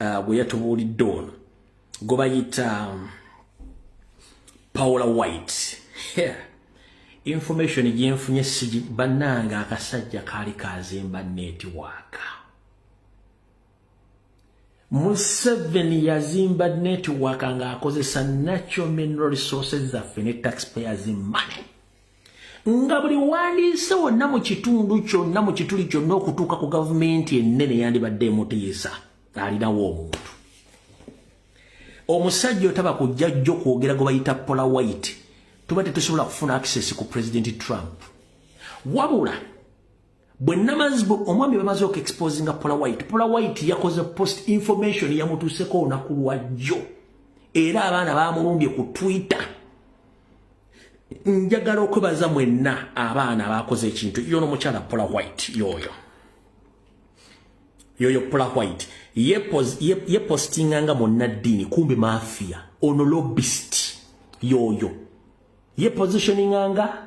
uh, gwe yatubuulidde ono gwe bayita um, paula white yeah. information gyenfunye sigi bannange akasajja kaali kazimba netiwaaka museveni yazimba netiwaaka ng'akozesa natural mineral resources zaffe ne taxpayers money nga buli wandiise wonna mu kitundu kyonna mu kituli kyonna okutuuka ku gavumenti ennene yandibadde emutiisa alinawo omuntu omusajja otaba kujja jjo kwogera gwe bayita pola white tuba tetusobola kufuna access ku president trump wabula bwe namazi bwe omwami bamaze oku exposinga pola white pola white yakoze post information yamutuuseko olunaku lwajjo era abaana bamulumbye ku twitter njagala okwebaza mwenna abaana abakoze ekintu yono mukyala pola white yoyo yoyo pola white yepostinga ye, ye nga munnaddiini kumbe mafia ono lobist yoyo yepositioninga nga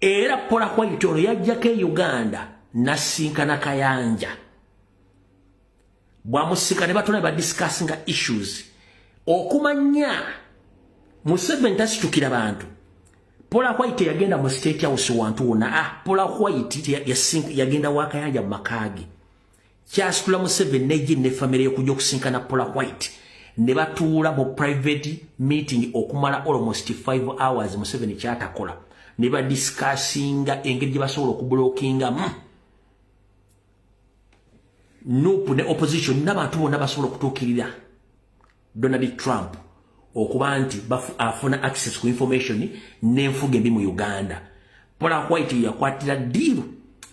era pola white ono yajjako e uganda nasinkana kayanja bwamusika ne batona badiscussinga issues okumanya museveni tasitukira bantu pola white yagenda mu state house wantu wona ah pola white yagenda wakayanja mu makaage kyasitula museveni nejini ne famire yokujja okusinkana pola white ne batuula mu private meeting okumala almost 5 hours museveni kyatakola ne badisikasinga engeri gye basobola okubulokingamu hmm. nupu ne opposition n'abantu bonna basobola okutuukirira donald trump okuba nti afuna access ku information n'enfuga embi mu uganda pola white yakwatira diiru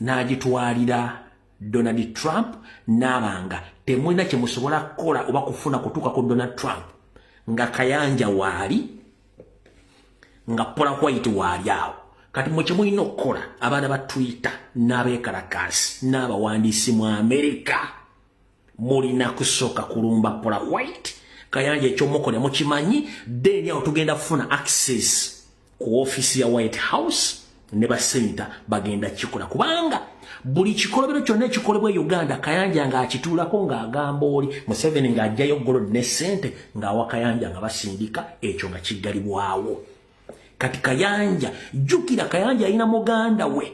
n'agitwalira Donald Trump nabanga temwena kye musobola kola oba kufuna kutuka ku Donald Trump nga kayanja wali nga pola white wali awo kati mwe kye mulina okukola abaana ba Twitter n'abekalakaasi n'abawandiisi mu Amerika mulina kusooka kulumba pola white kayanja ekyomukola mukimanyi then awo tugenda kufuna access ku office ya White House ne ba senator bagenda kikola kubanga buli kikolobero kyonna ekikolebwa e Uganda Kayanja nga akituulako nga agamba oli Museveni nga ajjayo golo ne sente nga awa Kayanja nga basindika ekyo nga kiggalibwawo kati Kayanja jukira Kayanja alina muganda we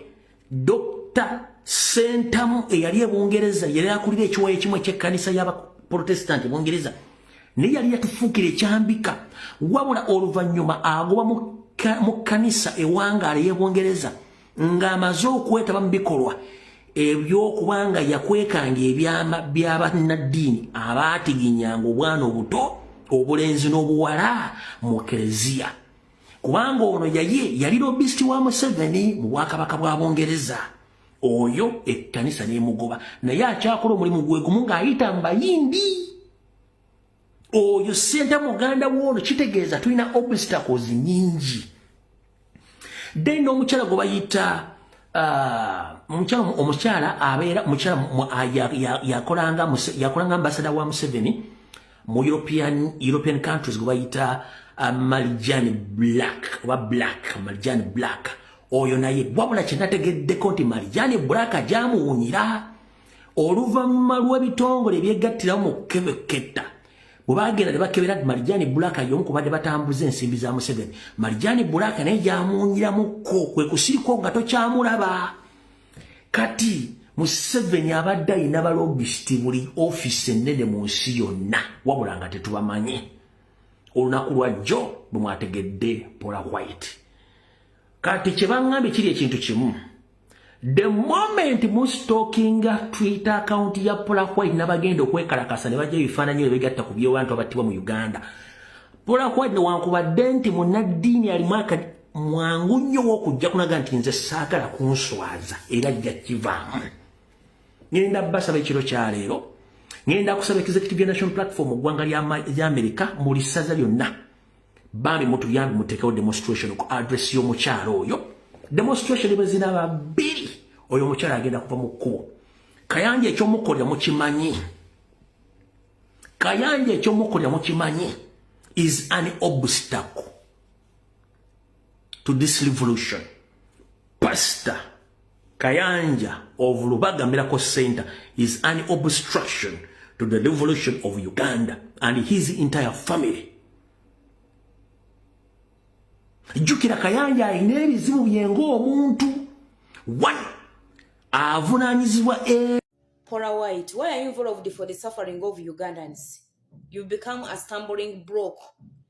dr sentamu eyali ebungereza yali akulira ekiwayo ekimu ekyekkanisa y'abaprotestanti ebungereza naye yali yatufuukira ekyambika wabula oluvannyuma agoba mu kkanisa ewangaala ey'ebungereza ng'amaze okwetaba mu bikolwa ebyokuba nga yakwekanga ebyama by'abannaddiini abaatiginyanga obwana obuto obulenzi n'obuwala mu kereziya kubanga ono yaye yali lobist wa museveni mu bwakabaka bwa bungereza oyo ekkanisa nemugoba naye akyakola omulimu gwegumu ng'ayita mbayindi oyo senta muganda woono kitegeeza tulina obstacles nyingi then omukyala gwe bayita ah, omukyala omukyala abeera omukyala yakolanga yakolanga ambasada wa museveni mu european european countries gwebayita uh, malijani black oba black malijani black oyo naye wabula kyenategeddeko nti malijani black ajamuwunyira oluvanyuma lw'ebitongole ebyegattirawo mu kebeketta bwebagenda nebakebera ti malijani black yomu kubadde batambuza ensimbi za museveni malijani black naye gyamuwunyiramuko kwekusirikwo nga tokyamulaba kati museveni abadde ayina balobisiti buli ofiisi ennene mu nsi yonna wabula nga tetubamanyi olunaku lwajjo bwe mwategedde pola white kati kyebaŋambye kiri ekintu kimu the moment mustokinga twitter account ya pola white nabagenda okwekalakasa ne bajja ebifaananyi ebyo begatta ku byobantu abattibwa mu uganda pola white newankubadde nti munaddiini alimu akadi mwangu nnyo wokujja kulaga nti nze saagala kunswaza era jja kivaamu ngenda basaba ekiro kyaleero ngenda kusaba executive ya national platform ogwanga lya amerika muli ssaza lyonna bambi mutuyambi mutekewo demonstration ku address y'omukyalo oyo demonstration ebazina babiri oyo omukyalo agenda kuva mu kkubo kayanja ekyomukolera mukimanyi kayanja ekyomukolera mukimanyi is an obstacle to this revolution pastor kayanja of lubaga miracle center is an obstruction to the revolution of uganda and his entire family jjukira kayanja alina ebizibu byenga omuntu one avunanyizibwa e Cora White, why are you involved for the suffering of Ugandans? You become a stumbling block